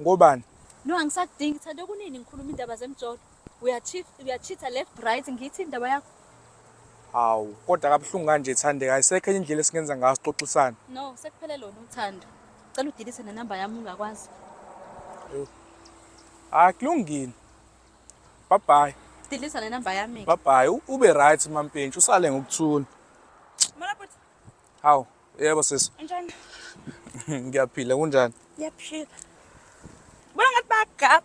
Ngobani? No angisakudingi thando kunini ngikhuluma indaba zemjolo. Uyacheat uyacheatha left right ngithi indaba yakho. Hawu, kodwa kabuhlungu kanje Thandeka, ayisekho enye indlela esingenza ngayo sixoxisane. No, sekuphele lona uthando. Cela udelete nenamba yami ungakwazi. Hayi kulungile. Bye bye. Delete nenamba yami. Bye bye. U- Ube right mampintshi, usale ngokuthula. Hawu, yebo sisi. Unjani? Ngiyaphila, kunjani? Ngiyaphila. Bona ngathi bagap.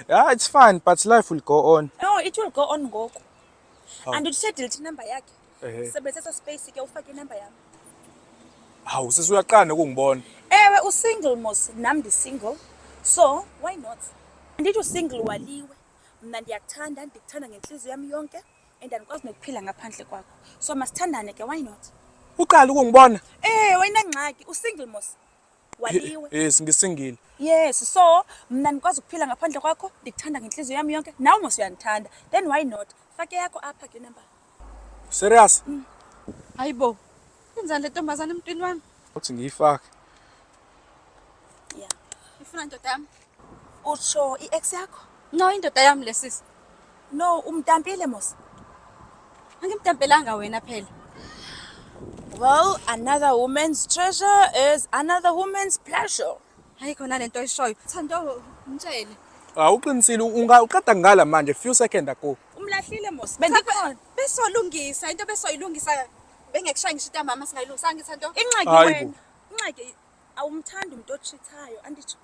Yeah, it's fine, but life will go on. No, it will go on ngoku. Oh. And uthe delete number yakhe. Eh. Sebenzisa space ke ufake inumber yami. Hawu, sisi uyaqana ukungibona. Ewe u single mos, nam ndi single. So, why not? Andithi u single waliwe. Mna ndiyakuthanda, ndikuthanda ngenhliziyo yami yonke. and andikwazi nokuphila ngaphandle kwakho so masithandane ke why not uqala ukungibona eh wayinangxaki usingle mos waliwe yes ngisingile yes so mna ndikwazi ukuphila ngaphandle kwakho ndikuthanda ngentliziyo yami yonke nawe mos uyandithanda then why not fake yakho apha ke number serious mm. hayibo yenzani le ntombazana emntwini wami uthi ngiyifake ya ifuna ndoda yami Utsho i-ex yakho? No, indoda yami lesisi. No, umtampile mos. Angimtampelanga wena phela. Well, another woman's treasure is another woman's pleasure. Hayi khona lento oyishoyo. Thando mtshele. Awuqinisile unga uqeda ngala manje few second ago. Umlahlile mos. Bendikhona. Besolungisa into besoyilungisa bengekushaya ngisho into mama singayilungisa ngithi Thando. Inxaki Hayi wena. bo. Inxaki Awumthandi umuntu ochithayo anditsho.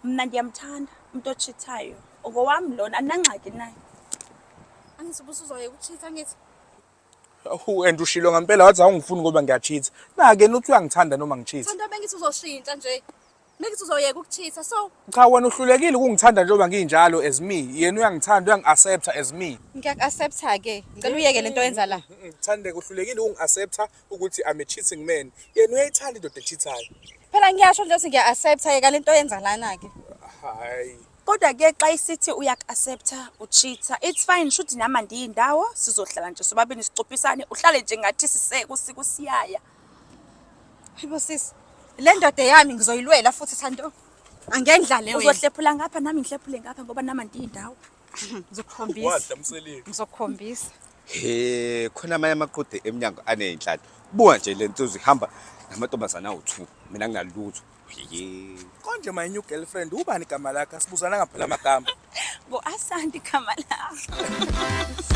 Mna ndiyamthanda umuntu ochithayo. Ngowami lona andinangxaki naye. Angithi ubusuzoye ukuchitha ngithi. Awu and ushilo ngempela wathi awungifuni ngoba ngiyachitha. Nake nuthi uyangithanda noma ngichitha. Thanda bengithi uzoshintsha nje. Bengithi uzoyeka ukuchitha so Cha wena uhlulekile ukungithanda njengoba nginjalo as me. Yena uyangithanda uyangi-accepta as me. ngiyaku-accepta ke. Ngicela uyeke lento yenza la. Ngithande uhlulekile ukungi-accepta ukuthi I'm a cheating man yena uyayithanda indoda echithayo phela ngiyasho nje ukuthi ngiya accept ke kalento yenza lana ke hayi kodwa ke xa isithi uyakuaccepta uchitha it's fine shuthi nami andiyindawo sizohlala nje sobabini sicopisane uhlale nje ngathi siseke usiku siyaya hayibo sisi le ndoda yami ngizoyilwela futhi thando angendlale wena uzohlephula ngapha nami ngihlephule ngapha ngoba nami andiyindawo ngizokukhombisa Wadla mseleni. ngizokukhombisa he khona amanye amaqude emnyango aney'nhlalo buka nje le nsuzu ihamba namantombazane awu-two mina ngingalutho ye Konje my new girlfriend ubani igama lakhe asibuzana ngaphela amagama. ngu-asante igama lakho